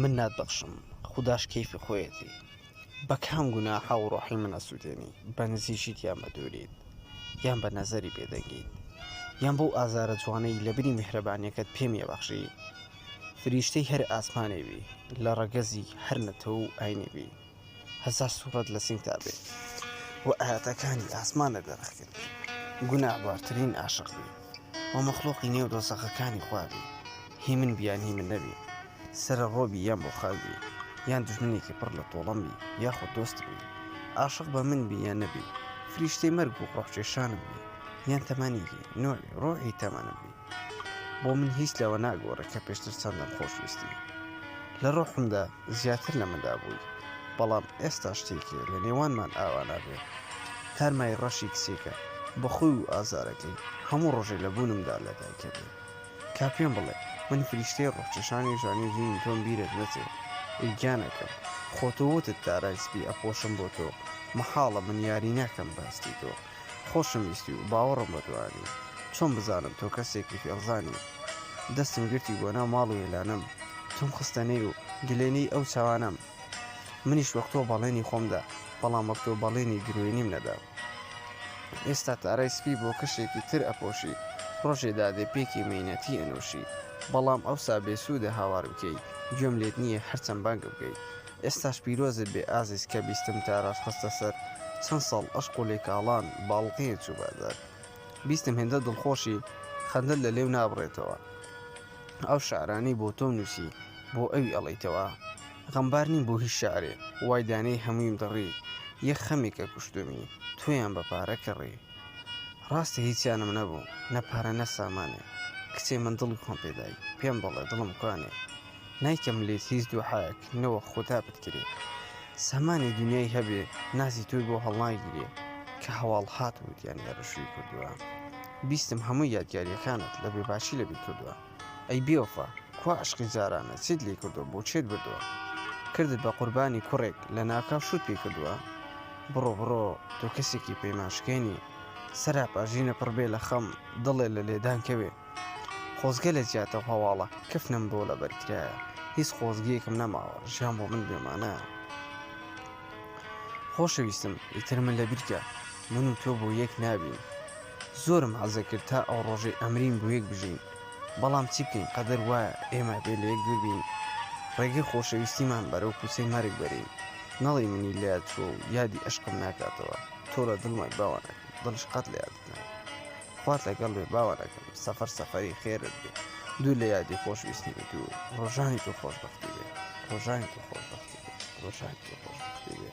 من نات بەخشم خودداش کەیفی خۆیەتی بە کام گونا حەو ڕۆحی من ئەسوودێنی بە نزیشیت یان بە دووریت یان بە نەزەری بێدەنگیت یان بەو ئازارە جوانەی لە بری میهرەبانیەکەت پێم یەبەخشی فریشتەی هەر ئاسمانێوی لە ڕەگەزی هەر نەتەوە و ئاینێوی هەزار سوڕەت لە سینگدا بێ و ئاەتەکانی ئاسمانە دەرەخکرد گوناهبارترین ئاشق بی و مەخلوقی نێو دۆسەخەکانی خوابی هی من بیان هی من نەبی سرە ڕۆبی یان بۆ خاوی یان دژمنێکی پڕ لە تۆڵەمبی یاخود دۆست بی عاشق بە من بی یان نەبی فریشتەی مەرگ و ڕۆحچێشانم بی یان تەمانێکی نۆری ڕۆحی تەمانم بی بۆ من هیچ لەوە ناگۆڕێ کە پێشتر چەندم خۆشویستی لە ڕۆحمدا زیاتر لە مندا بووی بەڵام ئێستا شتێکێ لە نێوانمان ئاوا نابێ تارمای ڕەشی کسێکە بە خۆی و ئازارەکەی هەموو ڕۆژێ لە بوونمدا لە دایکە بێ کا پێم بڵێ من فریشتەی ڕۆحچەشانی ژانی ژینی تۆم بیرت نەچێ ئەی گیانەکەم خۆتۆ وتت دارای سپی ئەپۆشم بۆ تۆ مەحاڵە من یاری ناکەم بەهەستی تۆ خۆشم ویستی و باوەڕم بە دوانی چۆن بزانم تۆ کەسێکی فێڵزانی دەستم گرتی بۆ ناو ماڵ و وێلانم تۆم خستە نێ و گلێنەی ئەو چاوانم منیش وەک تۆ بەڵێنی خۆمدا بەڵام وەک تۆ بەڵێنی گروێنیم نەدا ئێستا تارای سپی بۆ کەشێکی تر ئەپۆشی ڕۆژێ دادێ پێکی مینەتی ئەنووشی بەڵام ئەوسا بێسوودە هاوار بکەی گوێم لێت نییە هەرچەند بانگم بکەیت ئێستاش پیرۆزت بێ ئازیز کە بیستم تاراش خستە سەر چەن ساڵ ئەشق و لێکاڵان باڵقەیەک چوو بازار بیستم هێندە دڵخۆشی خەندەت لە لێو نابڕێتەوە ئەو شعرانەی بۆ تۆم نووسی بۆ ئەوی ئەڵیتەوە غەمبار نیم بۆ هیچ شعرێ وای دانەی هەموویم دڕی یەک خەمێکە کوشتمی تویان بە پارە کڕی ڕاستە هیچیانم نەبوو نە پارە نە سامانێ کچێ من دڵی خۆم پێدای پێم بڵێ دڵم کوانێ نایکەم لێت هیچ دوحایەک نەوە خودا بتگرێ سامانی دنیای هەبێ نازی تۆی بۆ هەڵناگیرێ کە هەواڵ هات وتیان لە ڕشوی کردووە بیستم هەموو یادگاریەکانت لە بێ باشی لەبی کردووە ئەی بێوەفا کوا عشقی جارانە چیت لێ کردووە بۆ چێت بردووە کردت بە قوربانی کوڕێک لە ناکاو شوت پێ کردووە بڕۆ بڕۆ تۆ کەسێکی پەیمانشکێنی سەراپاژینە پڕبێ لە خەم دڵێ لە لێدان کەوێ خۆزگە لە جیاتە و هەواڵە کەفنم بۆ لە بەرکرایە هیچ خۆزگەیەکم نەماوە ژیان بۆ من بێمانە خۆشەویستم ئیتر من لە بیرکە من و تۆ بۆ یەک نابین زۆرم حەزە کرد تا ئەو ڕۆژەی ئەمرین بۆ یەک بژین بەڵام چی بکەین قەدەر وایە ئێمە بێ لە یەک دووربین ڕێگەی خۆشەویستیمان بەرەو کوچەی مەرگ بەرین نەڵی منی لە تۆ یادی عشقم ناکاتەوە تۆ لە دڵمای باوانەکە دڵش قەت لە یادت ناکە خوات لەگەڵ بێ باوەڕەکەم سەفەر سەفەری خێرت بێ دوور لە یادی خۆش ویستی بێت و ڕۆژانی تۆ خۆشببختی بێ ڕۆژانی تۆ خۆشببختی بێ ڕۆژانی تۆ خۆشببختی بێ.